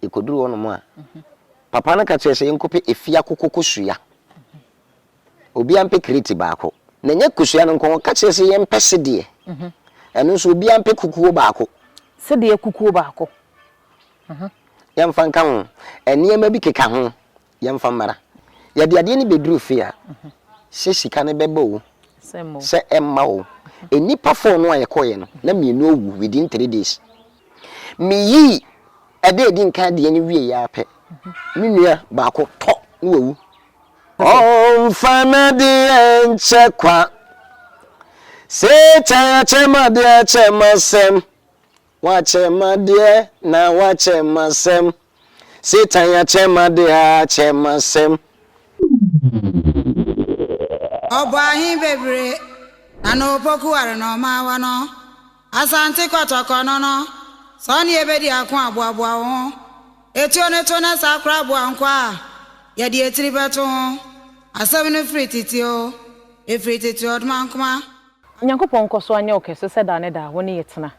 Yekoduru hɔnom a, papa no ka kyerɛɛ sɛ yɛnkɔpɛ efiakoko kosua. Obiara mpɛ kreti baako. Na ɛnyɛ kosua no nko, ɔka kyerɛɛ sɛ yɛmpɛ sedeɛ. Ɛno nso, obiara mpɛ kukuo baako. Sedeɛ kukuo baako. Yɛmfa nka ho. Nneɛma bi keka ho. Yɛmfa mmara. Yɛde adeɛ no bɛduru fie a, sɛ sika no bɛba o, sɛ ɛmma o. Nnipa four no a yɛkɔeɛ no, na mmienu awu within three days. Meyii ɛda a ɛdi nkan adeɛ no wieeɛ ara pɛ, me nua baako tɔ na wawu. Ɔmfa n'adeɛ nkyɛ kwa. Satan akyɛ m'adeɛ akyɛ m'asɛm. W'akyɛ m'adeɛ na w'akyɛ m'asɛm Satan y'akyɛ m'adeɛ akyɛ m'asɛm. Ɔbɔ ahe bebre na na opoku ware na ɔmaawa no Asante kɔtɔkɔ no no Sɛ ɔne yɛ bɛdi ako a boaboa wo ho Etuo no to na saa koraa boa nkwa a yɛde etiri bɛto ho Asɛm no firi tete o Efiri tete ɔdoma nkoma Nyankopɔn nkɔ so anyɛ wo kɛse sɛ daa ne daa wo ne yɛ tena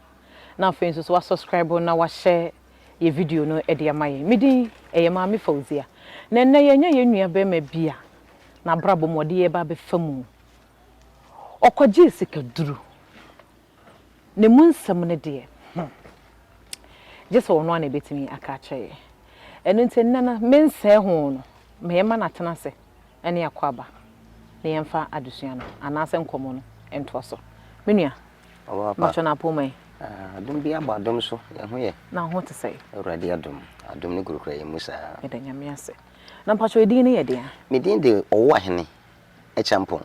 na afei nso so wa subscribe na wahyɛ yɛ video no de ama yɛn. Me din ɛyɛ Maame Fauzia na ɛnnɛ yɛanya yɛn nua barima bi a n'abrabɔ mu ɔde yɛ ba abɛfa mu. Ɔkɔgyee sika duru. Ne mu nsɛm no deɛ hmm gye sɛ ɔno ara na ɛbɛtumi aka akyerɛ yɛn. Ɛno nti ɛnnɛ no mensɛɛ ho no mɛma no atena ase. ne akwaaba na yɛmfa adesua no anaasɛ nkɔmmɔ no ntoa so. Me nua, mpakyɛ na apoma yi? Adom bi abɔ adom so, yɛn ho yɛ? Na wo ho te sɛn? Awurade adom, adom no kurakura yɛn mu saa. Yɛda Nyame ase. Na mpakyɛ edin no yɛ deɛn? Me din de Ɔwoahene Acheampong.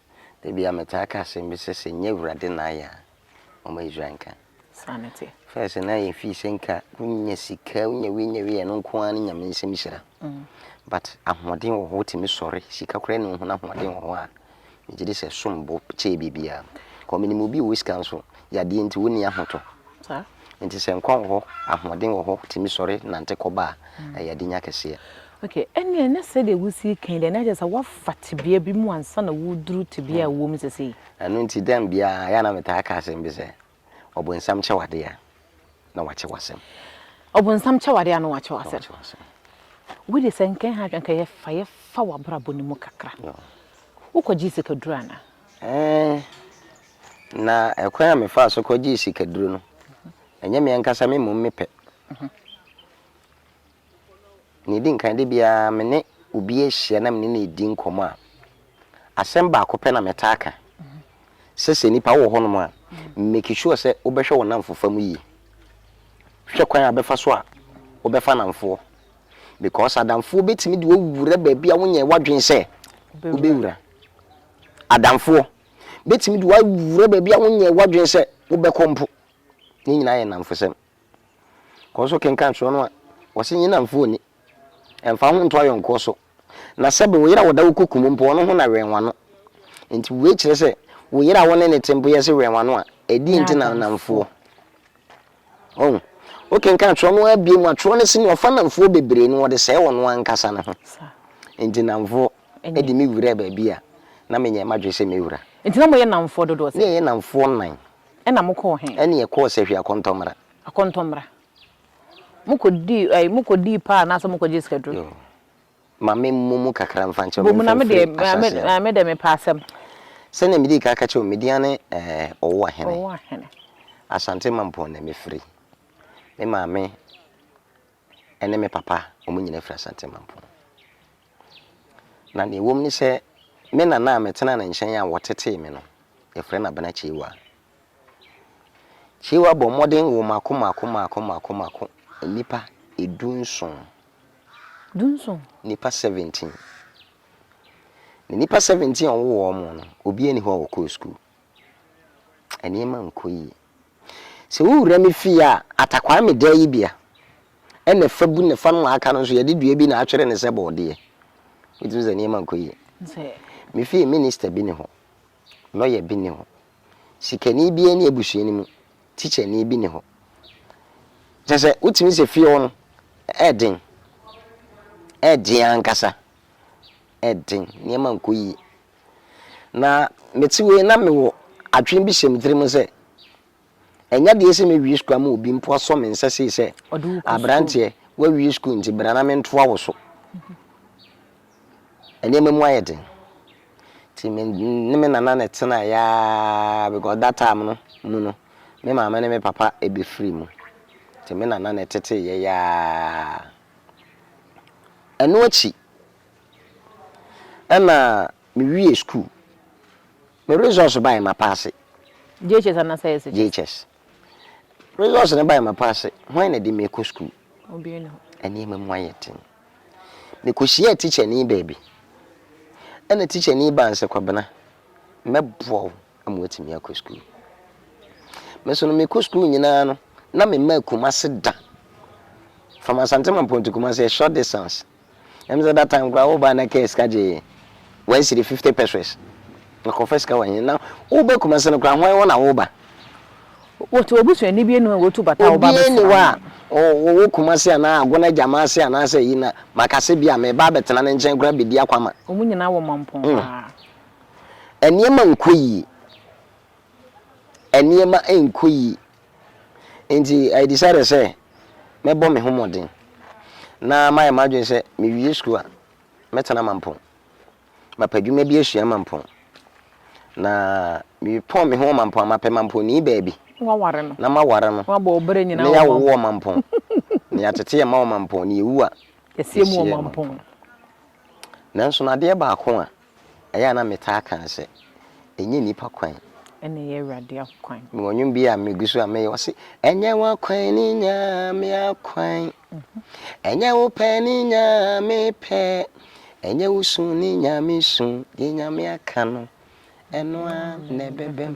Da biara metaa ka asɛm bi sɛ, sɛ nnyɛ Awurade na ayɛ a, momma Israel nka. Sane te. First na yɛ fii sɛ nka wonya sika, wonya wei nya wei ɛno nko ara ne Nyame nsɛm hyira. But ahoɔden wɔ hɔ wotumi sɔre, sika koraa nni ho na ahoɔden wɔ hɔ a, megye di sɛ ɛsom bo kyɛɛ biribiara. Because menim obi a ɔwɔ sika nso, yadeɛ nti ɔnni ahotɔ. Saa. Nti sɛ nkwa wɔ hɔ, ahoɔden wɔ hɔ, tumi sɔre nante kɔba a, ɛyɛ adenya kɛseɛ. Ok, ɛnneɛ na sɛdeɛ wosii kan deɛ na kyerɛ sɛ woafa tebea bi mu ansa na woreduru tebea a wowɔ mu sesei. Ɛno nti da biara, ɛyɛ a na metaa ka asɛm bi sɛ, Ɔbonsam kyɛ w'adeɛ a, na wakyɛ w'asɛm. Ɔbonsam kyɛ w'adeɛ a, na wakyɛ w'asɛm. Wei deɛ sɛ nka ɛha, nka yɛfa yɛfa w'abrabɔ no mu kakra. Wokɔgyee sikaduro anaa? Ɛɛ, Na ɛkwan a mefaa so kɔgyee sikaduro no, ɛnyɛ me ankasa me mmom me pɛ. Nea ɛdi nkan, da biara me ne obi ahyia na me ne no redi nkɔmmɔ a, asɛm baako pɛ na metaa ka sɛ, sɛ nnipa wɔ hɔnom a, make sure sɛ wobɛhwɛ wo nnamfofa mu yie. Hwɛ kwan a wobɛfa so a wobɛfa nnamfoɔ because adamfoɔ bɛtumi de wo awura baabi a wonyɛɛ w'adwene sɛ wobɛwura. Adamfoɔ. bɛtumi de wawura baabi a wonyɛɛ w'adwene sɛ wobɛkɔ mpo. Ne nyinaa yɛ nnamfosɛm. Kɔ so kenkan twerɛ no a wɔse nye nnamfoɔ nni. Ɛmfa ho nto ayɔnkoɔ so. Na sɛbe wo yere a ɔda wo koko mu mpo, ɔno ho na wɛn w'ano. Enti wei kyerɛ sɛ wo yere a wo ne no te mpo yɛse wɛn w'ano a, ɛdeɛn nti na nnamfoɔ? Ɔho, wokenkan twerɛ no ara bie mu a, twerɛ no se nea ɔfa namfoɔ bebree no, ɔde sɛe ɔno ankasa ne ho. Nti namfoɔ de me wuraa baabi a, na menyɛɛ m'adwene sɛ mɛwura. Nti na moyɛ namfoɔ dodoɔ sɛn? Na yɛyɛ namfoɔ nnan. Ɛna mokɔɔ he? Ɛne yɛkɔɔ Sahwi Akɔntɔmmra. Akɔntɔmmra. Mokɔdii, ɛɛ, mokɔdii paa anaasɛ mokɔgyee sikaduro? Yoo. Ma memmɔ mu kakra mfa nkyerɛ wo, Bɔ mu na me deɛ, memfemfiri ma me, ahyɛaseɛ no. ma me deɛ mepɛ asɛm. Sɛdeɛ medii ka ka kyerɛɛ wo, Midian ne ɛɛ, Ɔwoahene. Ɔwoahene. Asante Mampong na mefiri. Me maame ne me papa, wɔn nyinaa firi Asante Mampong. Na deɛ ɛwom ne sɛ, me nana a metenaa ne nkyɛn a wɔtetee me no, wɔfrɛ no Abena Kyeiwa. Kyeiwa bɔɔ mmɔden woo mmaako mmaako mmaako mmaako mmaako, nnipa du nson. Dunson. Nnipa seventeen. Na nnipa seventeen a wɔwoo wɔn no, obiara nni hɔ a ɔkɔɔ sukuu. Nneɛma nkɔ yie. Sɛ wo wura me fie a, Atakwame dan yi bia, ɛna ɛfa bu na ɛfa no a aka no nso yɛde dua bi na atwere no sɛ bɔɔdeɛ. Wotumi sɛ nneɛma nkɔ yie. Me fie, minista bi ne hɔ, lɔya bi ne hɔ, Sikani biara nni abusua no mu, tikyani bi nni hɔ. Kyerɛ sɛ, wotumi sɛ fie hɔ no, ɛyɛ den. Ɛyɛ den ankasa. Ɛyɛ den. Nneɛma nkɔ yie. Na mete wei na mewɔ adwene bi hyɛ me tirim sɛ, ɛnyɛ deɛ sɛ mɛwie sukuu ama obi mpo asɔ me nsa sei sɛ, aberanteɛ, woawie sukuu nti bra na mentoa wo so. nneɛma mu ayɛ den. Nti me ne me nana na ɛtenaeɛ ara because that time no mu no, me maame ne me papa bɛfirii mu. Nti me nana na ɛteteeɛ ara. Ɛno akyi, ɛna mewie sukuu. Me results baeɛ, mapaase. JHS anaasɛ SHS? JHS. Results no bae mapa ase. Hwan na ɛde me rekɔ sukuu? Nneɛma mu ayɛ den. Mekɔhyiaa tikyani baabi. Ɛna tikyani baa nsɛ Kwabena, mɛboa wo ama woatumi akɔ sukuu. Me nso no mekɔ sukuu nyinaa no, na memma Kumase da. From Asante Mampɔn to Kumase, a short distance, Ɛm sɛ that time koraa wobaa na car sika gyee one cedi fifty pesewas na kɔfa sika wɔ he na woba Kumasi no koraa hwan hɔ na woba. Wɔte wɔbusuani bie ni hɔ a wɔtu bata a wɔba bɛsra no a. Obiaa ni hɔ a wɔwɔ Kumasi anaa Agona Agyama ase anaasɛ ayi na maka sɛ bia meba abɛtena ne nkyɛn koraa bedi akwama. Wɔn nyinaa wɔ mampɔn paa. Nneɛma nkɔ yie. Nneɛma nkɔ yie. Enti I decided sɛ mɛbɔ me ho mmɔden na mayɛ m'adwene sɛ mewie sukuu a, mɛtena Mampong. Mapɛ adwuma bi asua Mampong, na mepɔn me ho wɔ Mampong a, mapɛ Mampongni baabi na maware no, na yɛawowo wɔ Mampong, na yɛatete yɛn mma wɔ Mampong, na yɛwu a, yɛsieɛ wɔ Mampong. Nanso no adeɛ baako a. Ɛyɛ a na metaa ka sɛ, Ɛnyɛ nnipa kwan. Ɛna ɛyɛ Awurade akwan. Mewɔ nnwom bi a megu so a meyɛ, ɔse, Ɛnyɛ w'akwan ne Nyame akwan, ɛnyɛ wo pɛ ne Nyame pɛ, ɛnyɛ wo su ne Nyame su, deɛ Nyame aka no, ɛno ara na ɛbɛbam.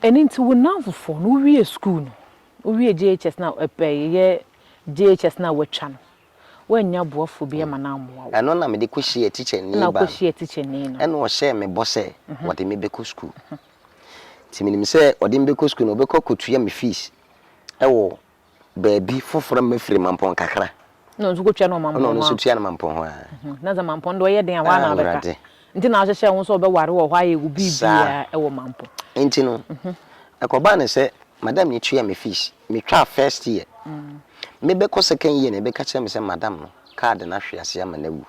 Ɛno nti wo nnamfofoɔ no, wowie sukuu no, wowie JHS no a, ɛɛ yɛ JHS no a woatwa no, wannya boafo bi ma no ammoa wo. Ɛno na mede kɔhyiaa tikyani Ɛna baa wokɔhyiaa tikyani no. ɛna ɔhyɛɛ me bɔ sɛ ɔde me bɛkɔ sukuu. Nti menim sɛ ɔde me bɛkɔ sukuu no, ɔbɛkɔ akɔtua me fees wɔ baabi foforɔ a mafiri Mampɔn kakra. Ɛna ɔno nso kɔtua no wɔ Mampɔn hɔ a. Ɛna ɔno nso tua no Mampɔn hɔ a. Na sɛ Mampɔn deɛ ɔyɛ den a, hɔ ara na wobɛka. Awurade. Nti na wahyehyɛ wo ho sɛ ɔbɛware wɔ hɔ ayɛ wo biribiara wɔ Mampo. Nti no, ɛkɔbaa no sɛ madam no tuaa me fees. Metwaa first year. Mebɛkɔ second year na ɛbɛka kyerɛ me sɛ madam no card no ahwe ase ama no awu.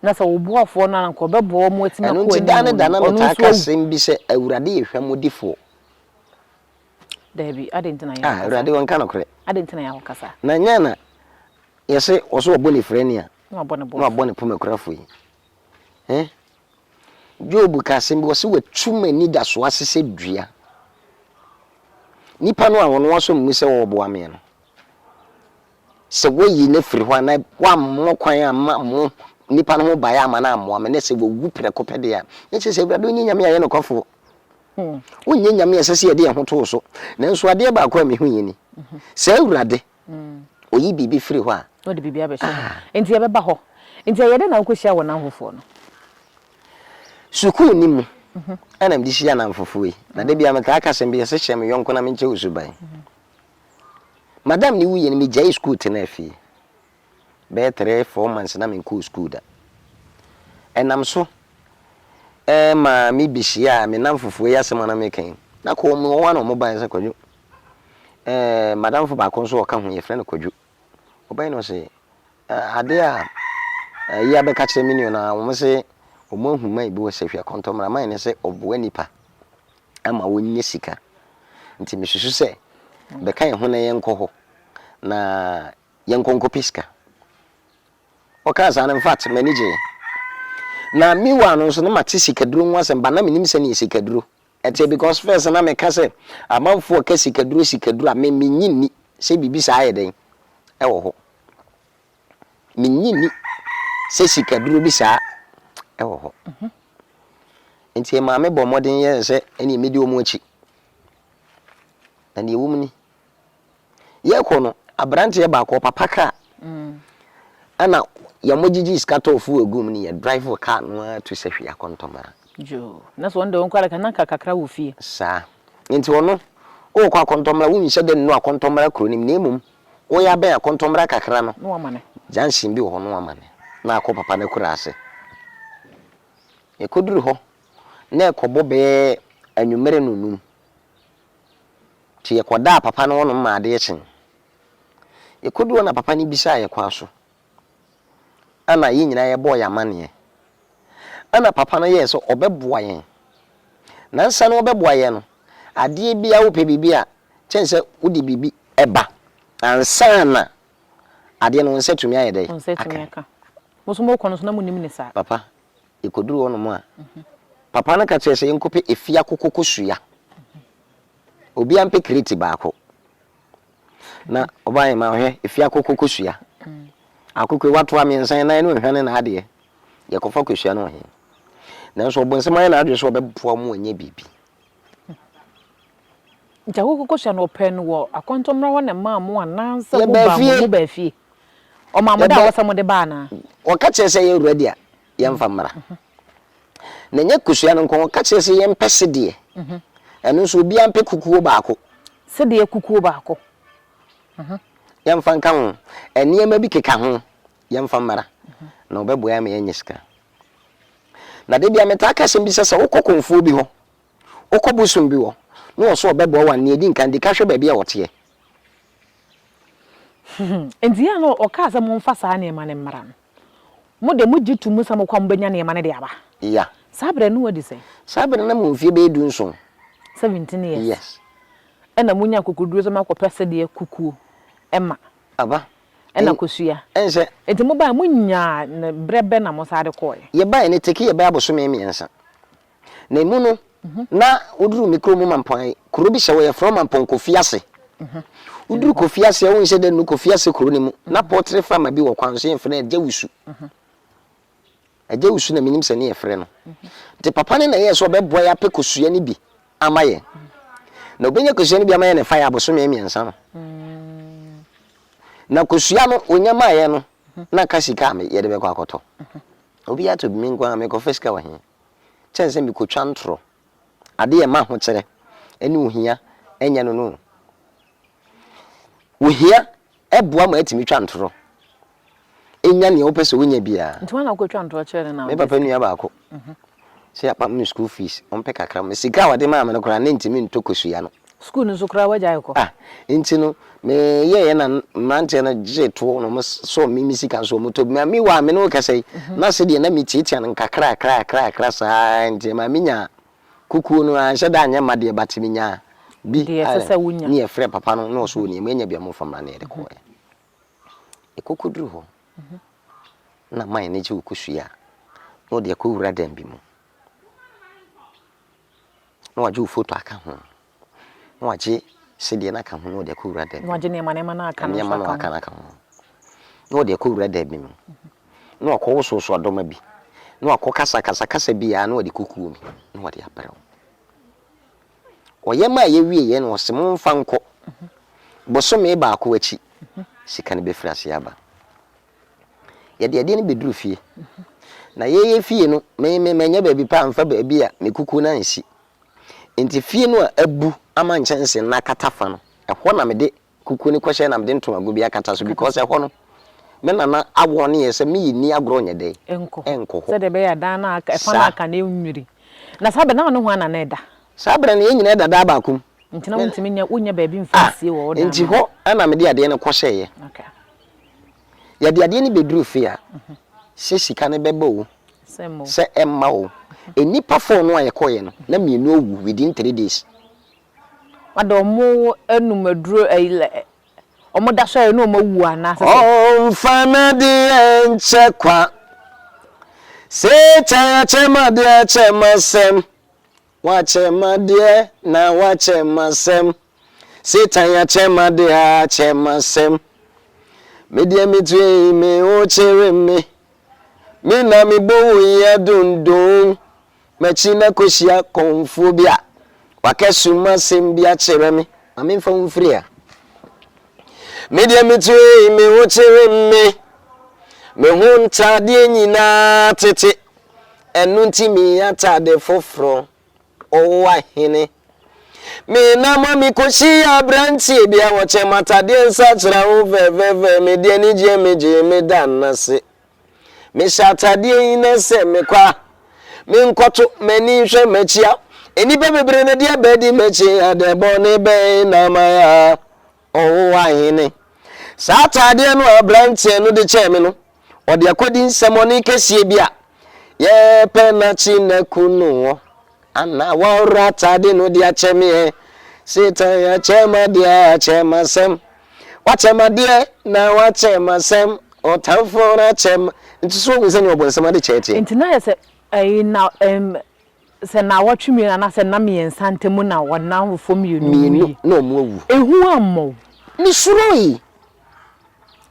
Na sɛ wo boafoɔ no a anka ɔbɛboa wo ma watumi akɔ anim o, ɔno nso awu. Ɛno nti da ne da na metaa ka asɛm bi sɛ Awurade yɛ hwammɔdifoɔ. Dabi, adɛn nti na yɛ akɔ saa? Ah, Awurade ɔnka nokorɛ. Adɛn nti na yɛ akɔ saa? Na nyɛ na yɛse ɔso ɔbɔ ne firani a na wabɔ ne pomakurafoɔ yi. Ɛ? Job ka asɛm bi, ɔse, Watu m'anidasoɔ ase sɛ dua. Nipa no a ɔno asɔ ne mu sɛ ɔreboa me no, sɛ woayi no afiri hɔ a, na woammɔ kwan amma mo nipa no ho baeɛ amma no ammoa me, na sɛ wawu prɛko pɛ deɛ a, na kyerɛ sɛ Awurade wonyɛ Nyame a ɛyɛ nokwafoɔ. Wonyɛ Nyame a ɛsɛ sɛ yɛde yɛn ho to wo so. Nanso adeɛ baako a mehunuiɛ ni, Sɛ Awurade Oyi biribi firi hɔ a. Na ɔde biribi abɛhyɛ hɔ. Enti yɛbɛba hɔ. Enti ɛyɛ dɛn na wokɔhyia wo nnamfofoɔ no? Sukuu no mu na mede hyia nnamfofoɔ yi. Na da biara metaa ka asɛm bi, ɛsɛ hyɛ me yɔnko na menkyɛ wo suban. Madam no wuiɛ no, megyaee sukuu tenaa fie. Bɛyɛ three, four months na menkɔɔ sukuu da. Ɛnam so ma mebɛhyiaa me nnamfofoɔ yi asɛm a na meka yi. Na kɔɔ mu, wɔn ara na wɔbaeɛ sɛ, Kwadwo, Ɛɛɛ m'adamfo baako nso a ɔka ho, yɛfrɛ no Kwadwo. Ɔbae na ɔse, Ɛɛ ade a ayi abɛka akyerɛ me nua no ara, wɔse wɔahu mine bi wɔ Sahwia Kɔntɔmmra. Mine no sɛ ɔboa nnipa ma wɔnya sika. Nti mesusu sɛ bɛka yɛn ho na yɛnkɔ hɔ na yɛnkɔ nkɔpɛ sika. Ɔkaa saa no, in fact, m'ani gyee. Na meanwhile no nso, na mate sikaduro ho asɛm, but na mennim sɛnea sikaduro Ɛte because first na me ka sɛ amanfoɔ ka sikaduro sikaduro a me me nyi nni sɛ biribi saa yɛ dɛn ɛwɔ hɔ. Me nyi nni sɛ sikaduro bi saa ɛwɔ hɔ. Nti ɛmaa me bɔ mmɔden yɛɛ sɛ ɛneɛ mɛdi wɔn akyi. Na deɛ ɛwɔ mu ni. Yɛkɔ no abranteɛ baako ɔpapa kaa ɛna yɛn gyegye sika tɔɔ fuel egu mu ne yɛ drive car no ara tu sɛ hwee akɔ ntɔmara. Yoo na sɛ wɔn deɛ wɔn kɔ adaka na nka kakra wɔ fie. Saa nti ɔno ɔɔkɔ akɔntɔmara wo nhyɛ da nnu akɔntɔmara kuro no mu na emom wo yɛ abɛn akɔntɔmara kakra no na wama no junction bi wɔ hɔ na wama no na akɔ papa no akura ase. Yɛkɔ duru hɔ na ɛkɔ bɔ bɛyɛ anwumerɛ no num. Ntsi yɛkɔdaa papa no hɔnom ma adze kyee. Yekodur hɔ na papa no bisaa hɛn kwan so. Ana hɛn nyina yɛbɔɔ hɛn amanneɛ. Ana papa no yɛɛ sɛ ɔbɛboa hɛn. Nansa no ɔbɛboa hɛn no, adeɛ biara wopɛ biribi a, kyɛn sɛ wode biribi ba ansaana adeɛ no wo nsa tumi ayɛ dɛ? Wo nsa tumi aka. Mo so mokɔ no so na monnim ne saa. Papa Yɛkɔduruu hɔ nom a, papa no ka kyerɛɛ yɛ sɛ yɛnkɔpɛ afia kokokosua. Obiara mpɛ kreti baako. Na ɔbaa yɛ ma ɔhwɛ afia kokokosua. Akokɔ yi watoa mmiɛnsa yɛ nan ne ohwa ne n'adeɛ. Yɛkɔfa kosua no wɔ he? Nanso ɔbonsam ayɛ n'adwene sɛ ɔbɛboa wɔn anya biribi. Nkyɛ hokɔkɔhyɛ no ɔpɛ no wɔ akɔntɔ mmra hɔ na mmaa mo anaasɛ mo baa mo mo baa fie ɔmaa mo da hɔ sɛ mo de ba anaa. Wɔka kyerɛ sɛ yɛ wura dea yɛ nfa mmra na nyɛ kosua no nko wɔka kyerɛ sɛ yɛ mpɛ sedeɛ ɛno nso obiara mpɛ kukuo baako. Sedeɛ kukuo baako. Yɛ nfa nka ho nneɛma bi keka ho yɛ nfa mmra na ɔbɛ boa yɛ ama yɛ nyɛ sika na debia me taa ka asɛm bi sɛ sɛ wokɔ kɔnfuo bi hɔ Wokɔ bosom bi hɔ na ɔsɛ ɔbɛboa wo a, nea edi nkan, di kan hwɛ baabi a ɔteɛ. Enti yɛn a na ɔkaa sɛ momfa saa nneɛma no mmra no, mo de, mogye to mu sɛ mokɔ a mobɛnya nneɛma no de aba? Ya. Saa berɛ no wadi sɛn? Saa berɛ no na mewɔ mfeɛ bɛyɛ dunson. Seventeen years. Yes. Ɛna monya akokoduro sɛ moakɔpɛ sɛdeɛ kukuo ma. Aba. Ɛna kosua. Ɛne sɛ. Enti mobaeɛ, monyaa no berɛ bɛn na mosan de kɔeɛ? Yɛbaeɛ no, ɛtake yɛbɛyɛ abosome mmiɛnsa. Na emu no, na woduru me kurom Mampɔn, kuro bi hyɛ hɔ, yɛfrɛ hɔ Mampɔn Kofi Ase. Woduru Kofi Ase a, wohu sɛ dɛ no Kofi Ase kuro no mu, na pɔtere fama bi wɔ kwan so, yɛfrɛ no Agyawusu. Agyawusu na menim sɛ ne yɛfrɛ no. Nti papa no na ɛyɛɛ sɛ ɔbɛboa yɛ apɛ kosua no bi ama yɛn. Na ɔbɛnya kosua no bi ama yɛn ɛfa yɛ abosome mmiɛnsa no. Na kosua no ɔnya maa yɛn no, na nka sika a yɛde bɛkɔ akɔtɔ. Obiara tɔ bi, me nko ara mekɔfa sika wɔ he? kyɛn sɛ mikotwa ntorɔ. Ade a ɛma ahokyerɛ ne ohia nyɛ no no. Ohia boa ma yɛtumi twa ntorɔ, nya nea wopɛ sɛ wunya biara. Nti, woana wokotwa ntorɔ kyerɛ no na wode sika? Me papa nua baako, sɛ yɛapam ne school fees, ɔmpɛ kakra. Sika a ɔde maa me no koraa, na entumi ntɔ kosua no. Sukuu no nso koraa woagyae kɔ? Ah, nti no me yɛeɛ na mmeranteɛ no gyee toɔ na wɔn sɔ me me sika nso wɔn tɔ bi ma me wɔ a me ne wo kasa yi na se deɛ na me tiatia no nkakra akra akra akra saa ara nti ɛmaa me nyaa kukuo no ara nhyɛ da nyɛ ma deɛ but me nyaa bi ara ne yɛ frɛ papa no na ɔso ɔnia mo anya bi a mo fa mmra na yɛde kɔɔɛ ɛkɔkɔ duru hɔ na man no gye wo kɔ sua na ɔde akɔ wura dan bi mu. na wɔagye wo foto aka ho, na wɔagye sedeɛ no aka ho na wɔde akɔ wura da bi mu. Na wɔagye nneɛma nneɛma no aka no nso aka ho. Nneɛma no aka no aka ho. Na wɔde akɔ wura da bi mu. Na wɔakɔ wo soso adɔma bi. Na wɔakɔ kasa kasa kasa bi a na wɔde kɔ kuo bi na wɔde abrɛ wo. Ɔyɛ ma a ɛyɛ wie yɛ no ɔse mo nfa nkɔ. Bosome baako akyi sika no bɛfiri aseɛ aba. Yɛde adeɛ no bɛduru fie. Na yɛyɛ fie no, me me manyɛ baabi pa amfa baabi a me kukuo no ansi. Nti fie no a abu ama nkyɛnsee no akata fa no, ɛhɔ na mede kukuo no kɔhyɛ na mede ntomago bi akata so because ɛhɔ no, me nana awɔne yɛ sɛ meyi nni agorɔ nyɛ dɛn? Ɛnkɔ hɔ. Ɛnkɔ hɔ. Sɛdeɛ ɛbɛyɛ a dan no a aka, ɛfa no a Saa. aka no ɛnwiri. Na saa berɛ no, na wo ne hwan na na ɛda? Saa berɛ no, yɛn nyinaa da dan baako mu. Nti na Me na. wontumi nyɛ, wonnya baabi mfa Ah, nsie wɔ wo dan nti no mu? hɔ na mede adeɛ no kɔhyɛeɛ. Okay. Yɛde adeɛ no bɛduru fie a, sɛ sika no bɛba o, sɛ ɛmma o, nnipa four no a yɛkɔeɛ no, na mmienu awu within three days. Wɔde wɔn nom aduro, wɔda so ayɛ na wɔn awu anaa sɛ sɛ. Ɔmfa n'adeɛ nkyɛ kwa. Satan akyɛ m'adeɛ akyɛ m'asɛm. W'akyɛ m'adeɛ na w'akyɛ m'asɛm Satan y'akyɛ m'adeɛ akyɛ m'asɛm Me deɛ me tue yi me wo kyere me Me na me bɔ wo yi adondon M'akyi na kɔ hyia kɔnfoɔ bi a W'akɛ su m'asɛm bi akyerɛ me Ma me nfa wo mfiri ha Me deɛ me tue yi me wo kyere me Me ho ntadeɛ nyinaa tete Ɛno nti mii atade foforɔ, ɔwowa hene. Mii nama mi kɔhyi yɛ abrantie bia wɔkyɛ matadeɛ nsa kyerɛ wo fɛfɛfɛ mi deɛ ni gyeɛ mi gyee mi da nase. Mi hyɛ atadeɛ yi na sɛ mi kɔ a, mi nkɔto mani nhwɛ makyi a, nnipa bebree na deɛ bɛdi makyi adɛn bɔne bɛn na mayɛ a. Ɔwɔ ahene. Saa ataadeɛ no a aberanteɛ no de kyɛɛ me no, ɔde akɔdi nsɛmɔne kɛseɛ bi a yɛpɛ nakye naku no wɔ. Ana wɔaworɔ ataade no de akyɛ me ɛ? Satan akyɛ m'adeɛ, akyɛ m'asɛm. Wakyɛ m'adeɛ na wakyɛ m'asɛm. Ɔtamfo no akyɛ m. Nti so wohu sɛnea ɔbonsam adekyɛɛ teɛ? Nti na ayɛ sɛ ɛyi na ɛm. Sɛ nnawɔtwe mmienu anaasɛ nna mmiɛnsa ntam na wɔn awofo mmienu wuui. Mmienu na wɔawu. Ehu ammɔ wo? Misuroe.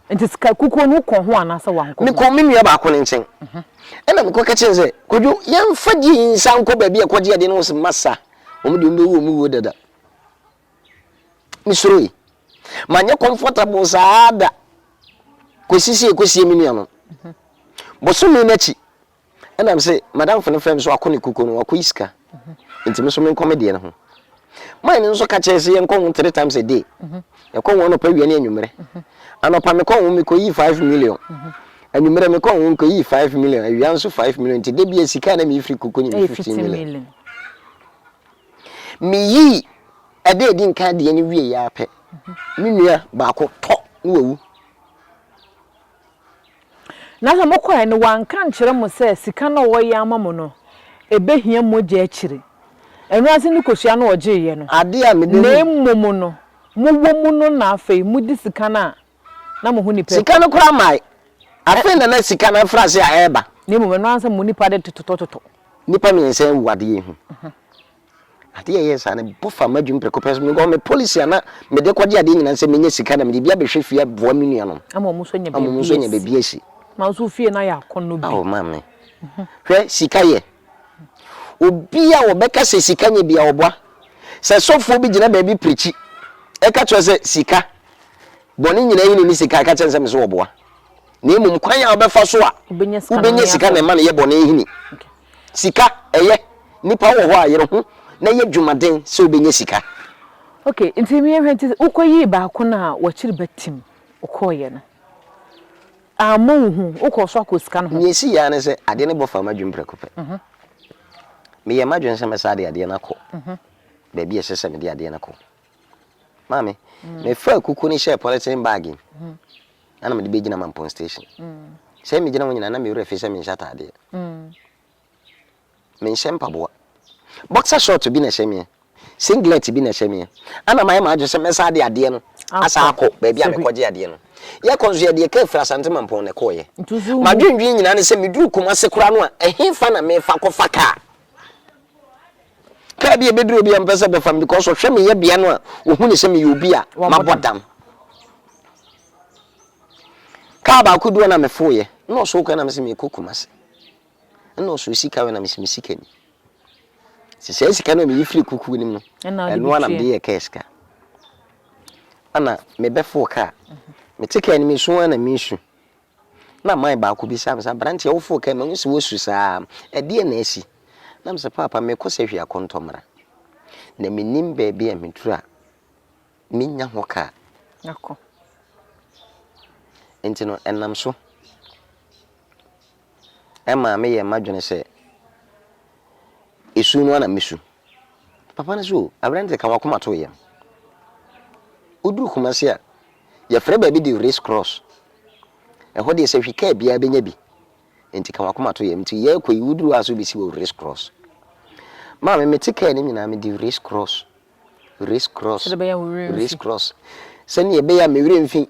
Enti sikakukuo no, wokɔɔ ho anaasɛ woankɔ ho? Mekɔɔ me nua baako no nkyɛn. Ɛnna mekɔka kyerɛɛ no sɛ, Kwadwo, yɛmfa gye yi nsan nkɔ baabi a ɛkɔgye ade no. Ɔse, Masa, wɔn deɛ wɔbɛwu wɔn wuo dada. Mesuroe. Manyɛ comfortable saa da kɔsi sɛ yɛkɔsie me nua no. Bosome no akyi. Ɛna me se madamfo no frɛ me sɛ wakɔ ne kukuo no wakɔ yi sika nti me nso menkɔ me deɛ no ho man no nso ka kyerɛ sɛ yɛnkɔ ho three times a day yɛkɔ ho anɔpa wia ne anwummerɛ anɔpa mekɔ ho mekɔ yi five million anwummerɛ mekɔ ho mekɔ yi five million awia nso five million nti debia sika na meyifiri kukuo no me fifteen million meyi ɛdɛ edi nka deɛ no wie yɛ apɛ me nua baako tɔ na wawu Na sɛ mokɔe no wɔanka ankyerɛ mo sɛ sika no a wɔreyɛ ama mo no, ebehia mogya akyiri. Ɛno ase ne kosua no wɔgyeeɛ no. Ade a mede na mmom no, mowɔ mu no na afei mode sika no a na mo ho nipa. Sika no koraa mae. Afei na na sika no afiri ase a ɛreba. Na mmom ɛno ara sɛ mo nipa de totɔtotɔ. Nnipa mmiɛnsa awu adeɛ yi ho. Adeɛ a ɛyɛɛ saa no bɔ faa m'adwene prɛko pɛ so. Because me policy a na mede kɔgye adeɛ nyinaa ne sɛ mɛnya sika na mede bi abɛhwɛ fie aboa me nuanom Ama wɔn nso anya ama wɔn nso baabi anya asi. baabi asi. Na nso fie no ayɛ akɔnnɔ bi. Ao maame, hwɛ sika yɛ. Obi a ɔbɛka sɛ sika nyɛ biara ɔboa. Sɛ sɔfoɔ bi gyina baabi pirikyi ɛka kyerɛ wo sɛ sika, bɔne nyinaa yi na ɛni sika a, ɛka kyerɛ no sɛ mese ɔboa. Na mmom kwan a wobɛfa so a Wobɛnya sika no wobɛnya ne sika na akɔ. ɛma no yɛ bɔne hini. Okay. Sika ɛyɛ. Nipa wɔ hɔ a yere ho na yɛ dwumaden sɛ ɔbɛnya sika. Ok nti yɛ hwɛ nti wo kɔ yii baako no a wakyiri ba tim wo kɔɔ yɛ no ammɔ wo hu wo kɔɔ so akɔ sika no ho. Nea ɛsi yɛ ara ne sɛ adeɛ no bɔ faa m'adwene prɛko pɛ. Me yɛɛ m'adwene sɛ mɛsa de adeɛ no akɔ baabi a ɛsɛ sɛ mede adeɛ no kɔ. Maame, mefaa kuku no hyɛɛ polythene bag mu na na mede bɛgyina Mampong station. Sɛ megyina hɔ nyinaa na me werɛ fi sɛ menhyɛ ataadeɛ. Menhyɛ mpaboa. Boxer short bi na ɛhyɛ meɛ, singlet bi na ɛhyɛ meɛ. Ana mayɛ m'adwene sɛ mɛsan de adeɛ no asan akɔ baabi a mekɔgye adeɛ no. Yɛkɔ nso yɛde yɛ kaa firi Asante Mampong na ɛkɔeɛ. M'adwendwene nyinaa ne sɛ meduru Kumase koraa no a, ɛhefa na mefa akɔfa kaa? Car bi a ebeduru obi a ɔmpɛ sɛ bɛfa me because ɔhwɛ me yɛbea no a ohu ne sɛ meyɛ obi a mabɔ dam. Car baako du hɔ na mefoo yɛ. Ɛna ɔsoo kwan na mese mekɔ Kumasi. Ɛna ɔsoo sika wei na mese me sika ni. Sɛ saa sika no a meyi firi kukuo no mu no, ɛno a na mede yɛ car sika. Ɛna mebɛfoo car. Mete car no mu esu a na mesu. Na man baako bisaa me sɛ, Aberanteɛ, woforo kɛn? Mahu sɛ woasu saa ara. Ɛdeɛn na asi? Na mese, Paapa, merekɔ sahwi akɔntɔmmra, na mennim baabi a meduru a mɛnya ho kaa. Akɔ. Enti no, ɛnam so maa meyɛɛ m'adwene sɛ, esu no ara na mɛsu. Papa no so o, aberante ka w'akoma to yɛn. Woduru Kumasi a, yɛfrɛ baabi de Race Cross. Ɛhɔ deɛ sɛ hwi kaa biara bɛnya bi. Nti ka w'akoma to yɛn. Nti yɛrekɔ yi, woduru hɔ a sɛ wobɛsi wɔ Race Cross. Maame, mete kaa no nyinaa mede Race Cross, Race Cross, Sɛdeɛ ɛbɛyɛ a wo werɛ Race remfi. Cross. Sɛdeɛ ɛbɛyɛ a me werɛ mfi.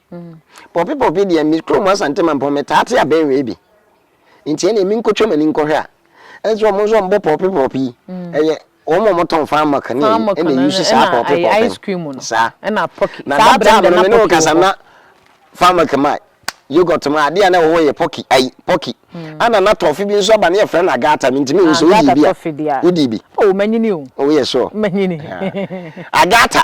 Pɔpi pɔpi deɛ me kurom Asante Mampɔn metaa te abɛnwee bi nti ɛnna emi nkotwa m'ani nkɔhwɛ a ɛnso wɔn nso wɔn bɔ pɔpi pɔpi yi mm. ɛyɛ wɔn a wɔn tɔn fan milk ne ɛnna eyi si saa pɔpi pɔpi no saa na that time no me ne wo kasa na fan milk ma yogurt ma adeɛ a na ɛwɔ hɔ yɛ pɔki ayi pɔki ɛnna mm. na tɔfi bi nso aba ne yɛ fɛ na agata mi nti mi nso wodi bi a wodi bi. o ma nyini o. o yɛ sure. ma nyini. agata.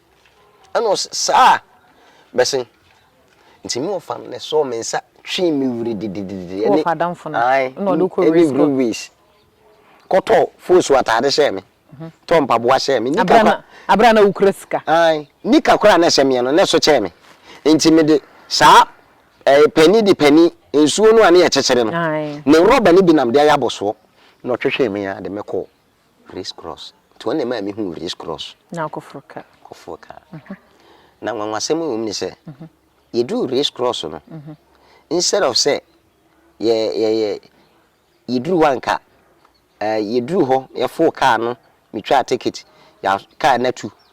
Ɛna ɔse, Saa! Bɛsen. Nti me wɔfa no na ɛsɔɔ me nsa twee me were didididi. Wo wɔfa adamfo no na ɔde wo kɔ race course? Ɛne bere race. Kɔtɔ fosu ataade hyɛɛ me, tɔ mpaboa hyɛɛ me, nika kora. Abere a na wokura sika. Ae, nika kora a na ɛhyɛ meɛ no, na ɛso kyɛɛ me. Nti mede saa ɛɛ pɛni de pɛni, nsuo no a ne yɛkyekyere no, ne rɔba no bi na mede ayɛ abɔsoɔ. Na ɔtwetwee me ara de, mekɔɔ. Race Cross. Nti wɔn na ɛmaa me huu Race Cross. Na wokɔ foro kaa. Kɔ foro kaa. Na nwanwasɛm a ɛwɔ mu ne sɛ, yɛduruu Race Cross no, instead of sɛ yɛ yɛ yɛ yɛduru hɔ a anka eh, yɛduruu hɔ, yɛfoo kaa no, metwaa ticket, yɛ kaa no atu,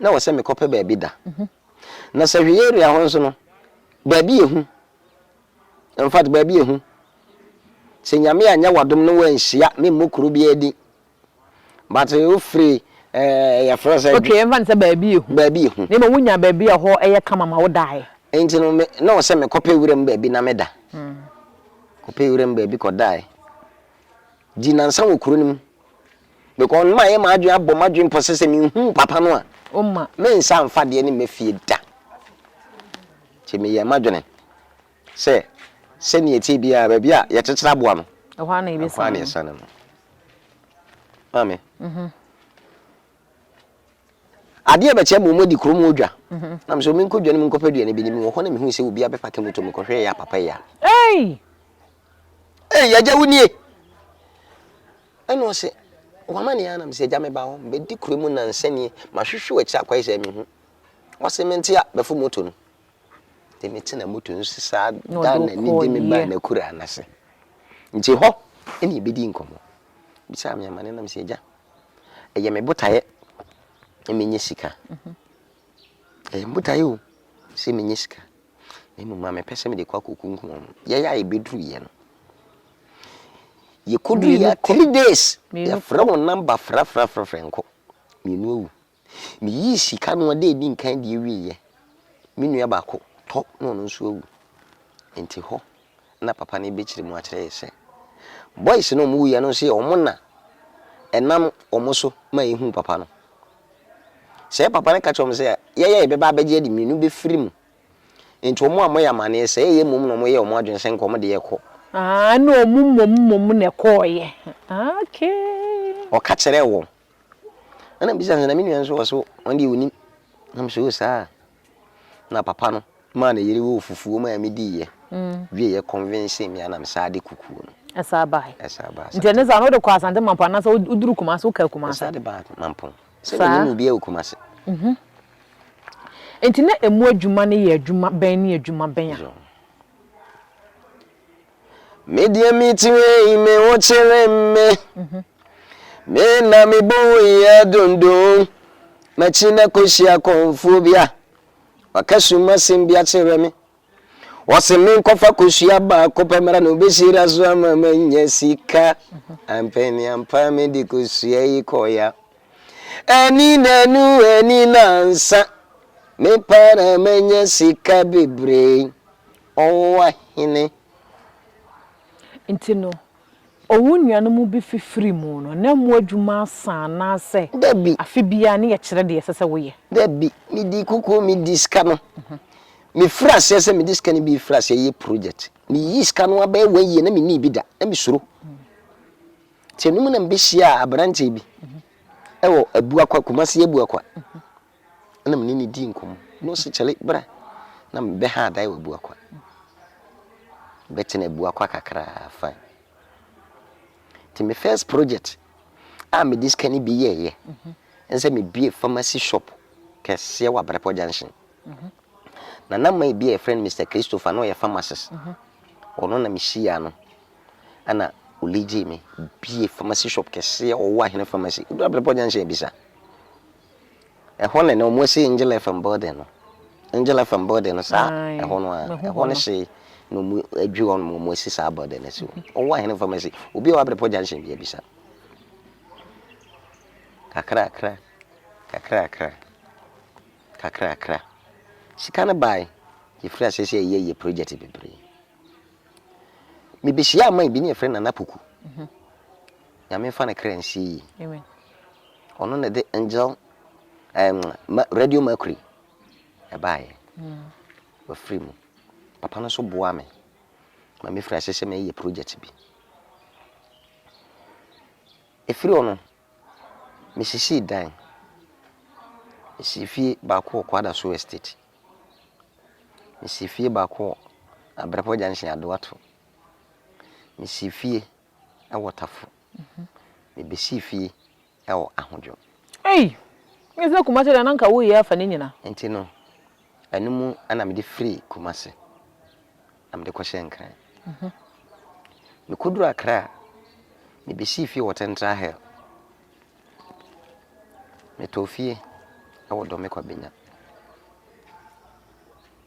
na wɔ sɛ mekɔ pɛ baabi da. Na sɛ hwɛ yɛ area hɔ nso no baabi yɛ hu. In fact baabi yɛ hu. Sɛ nyame anyɛ wadom na wanhyia me mmɔ kuro biara din. But wofiri eh, yɛfrɛ sɛ. Okay yɛmfa no sɛ baabi yɛ hu. Baabi yɛ hu. Na mmom wonya baabi a ɛhɔ yɛ kama ma wo daeɛ. Nti no me, na wɔ sɛ mekɔ pɛ wuram baabi na me da. Kɔ pɛ wuram baabi kɔ daeɛ. Di nansa wɔ kuro no mu. Because no mayɛ m'adwene abɔ m'adwene pɔ sɛ sɛ menhuu papa no a, mensa mfa adeɛ no mma fie da. Nti meyɛɛ m'adwene sɛ sɛdeɛ ɛteɛ biara baabi a yɛkyekyere aboa no, ɛhɔ ara na yɛsane no. Maame, adeɛ rebɛkyɛ ma wɔadi kurom hɔ dwa. Na me sɛ menkɔ dwa no mu nkɔpɛ aduane bi ne mewɔ hɔ na mehuu sɛ obi abɛpake moto mekɔhwɛɛ yɛ a papa yi a. Ei, agya wo nie! Ɛna ɔse, wama ne anam sɛ agya meba hɔ, mebɛdi kuro mu nansa nie, mahwehwɛ w'akyi akwae sɛ mehu. Ɔse, mente a, bɛfo moto no. De me tena moto no so saa da na ni de me baa n'akuraa no ase. Nti hɔ ɛna yɛbɛdii nkɔmmɔ. Bisaa me amane nam sɛ agya, ɛyɛ me botaeɛ na menyɛ sika. Ɛyɛ me botaeɛ o sɛ menyɛ sika. na mmom na mepɛ sɛ mede kɔ akɔkunkum wɔn. Yɛyɛ a yɛbɛduruiɛ no, yɛkɔduruiɛ a three days yɛfrɛ wɔn namba frɛfrɛfrɛfrɛ nkɔ, mmienu awu. Meyii sika no a da ɛdi nkan deɛ wieɛ, me nua baako tɔ na ɔno nso awu. Nti hɔ na papa no bɛkyerɛ mu akyerɛ yɛ sɛ boys no a wɔn wuiɛ no nso yɛ wɔn na ɛnam wɔn so ma yɛhuu papa no. Sɛɛ papa no ka kyerɛ wɔn sɛ yɛyɛ a yɛbɛba abɛgye adi mmienu bɛfiri mu. Enti wɔn ammɔ yɛ amaneɛ sɛɛ yɛ mmom na wɔn yɛɛ wɔn adwene sɛ nka wɔn de yɛ kɔ. Ah ɛna wɔn mmom mmom na ɛkɔɔyɛ ah okay. Ɔka kyerɛɛ wɔn. Ɛna mebisa no sɛ na me nua nso ɔse wɔn deɛ ɔnim. Na mese oo saa a. Na papa no maa ne yere woo fufuo maa me dii yɛ wie yɛ convincing me anam saa de kukuo no. Ɛsaa bae. Ɛsaa baa Asante. Nti ɛne saa no wode kɔ Asante Mampong anaasɛ woduru Kumasi wokaa Kumasi. Ɛsaa de baa Mampong. Sɛ me nim obiara wɔ Kumasi. Mhm. Nti na ɛmu adwuma no yɛ adwuma bɛn ne adwuma bɛn a. Me deɛ me ti wei me ho kyere me Me na me bo yɛ dondon Makyi na kɔhyia kɔmfoɔ bi a Waka sum asɛm bi akyerɛ me Wɔse me nkɔfa kɔhyia baako pɛ mmra na ɔbɛhyira so ama manya sika Ampɛ me ampa me de kɔhyia yi kɔya Ani na nu ani na nsa Me pa na manya sika bebree ɔnwowa hene. Nti no, owo nuanom bi fifiri mu no, na mo adwuma asa anaasɛ? Dabi. Afe biara ne yɛkyerɛ deɛ ɛsɛ sɛ woyɛ. Dabi, medi kukuo, medi sika no. Me firi aseɛ sɛ mede sika no bi firi aseɛ yɛ project. Me yii sika no abɛyɛ one year na me nnii bi da, na me suro. Nti anum na me bɛ hyiaa abranteɛ bi ɛwɔ Abuakwa, Kumasi Abuakwa. na me ne no dii nkɔmmɔ, na ɔse kyale bra na me bɛ ha adae wɔ Abuakwa. Me bɛ tena Abuakwa kakraa fine. Nti me first project a me de sika no bi yɛɛ yɛ, ɛne sɛ me bue pharmacy shop kɛseɛ wɔ Abrapɔ junction. Nana man bi a yɛfrɛ no Mister Christopher na ɔyɛ pharmacist, ɔno na me hyia no, ɛna ɔligyee me, bue pharmacy shop kɛseɛ, ɔwɔ ahene pharmacy, woduru Abrapɔ junction a bisa. Ɛhɔ ne na wɔasi Angel FM building no. Angel FM building no saa ɛhɔ no a, ɛhɔ no hye na wɔadwiri hɔ nom wɔasi saa building no asi hɔ. Ɔwɔ ahene pharmacy. Obi a wabere pɔ junction bi abisa. Kakrakra, kakrakra, kakrakra. Sika no bae, yɛfiri ase sɛ yɛyɛ yɛ project bebree. Mebɛhyia aman bi ne yɛfrɛ Nana Poku. Nyame mfa ne kra nsie yie. Amen. Ɔno na ɛde angel um, ma, radio mercury ɛbaeɛ mm. wafiri mu papa no nso boa me ma mefiri ase sɛ meyɛ project bi ɛfiri hɔ no mesisii dan mesii fie baako wɔ kwada so estate mesii fie baako wɔ abrapɔ junction adoato mesii fie wɔ tafo me besi fie wɔ ahodwo. Ei! Nyɛ sɛ Kumase deɛ na nka wo yɛ afa ne nyina. Nti no ɛno mu na mede firi Kumase na mede kɔ hyɛɛ Nkran. Me kɔ duru Akra a me besi fie wɔ Central Hill. Me tɔɔ fie wɔ Dɔmekwa Benya.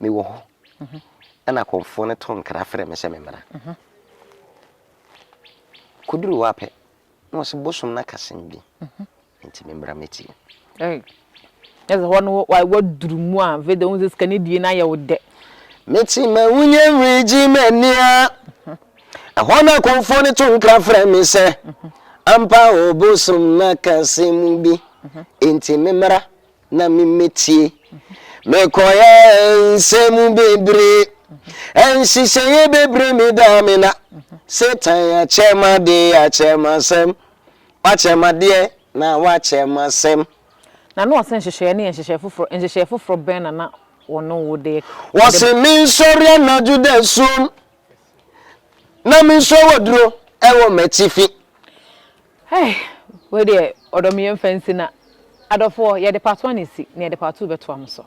mewɔ hɔ, ɛna kɔmfoɔ no to nkra frɛ me sɛ memmra. Kɔduru hɔ ara pɛ, na ɔse bosom no aka asɛm bi nti memmra mɛtie. Ei, na sɛ hɔ no woaduru mu a, afei deɛ wohu sɛ sikani die no ayɛ wo dɛ. Mete ma wonya nwiri gye m'ani a, ɛhɔ na kɔmfoɔ no to nkra frɛ me sɛ, ampa o bosom no aka asɛm bi nti memmra na memmetie. Mekɔyɛ nsɛm bebree, nhyehyɛeɛ bebree medaa me na. Satan akyɛ m'ade, akyɛ m'asɛm, wakyɛ m'adeɛ na wakyɛ m'asɛm. Na na wɔse nhyehyɛeɛ no yɛ nhyehyɛeɛ foforɔ, nhyehyɛeɛ foforɔ bɛn na na wɔne wo de. Wɔse mensɔre anadwo dasuom, na mensɔ waduro wɔ m'atifi. Hey! Wei deɛ ɔdɔ me yɛmfa nsi na adɔfoɔ yɛde part one asi na yɛde part two bɛtoa mo so.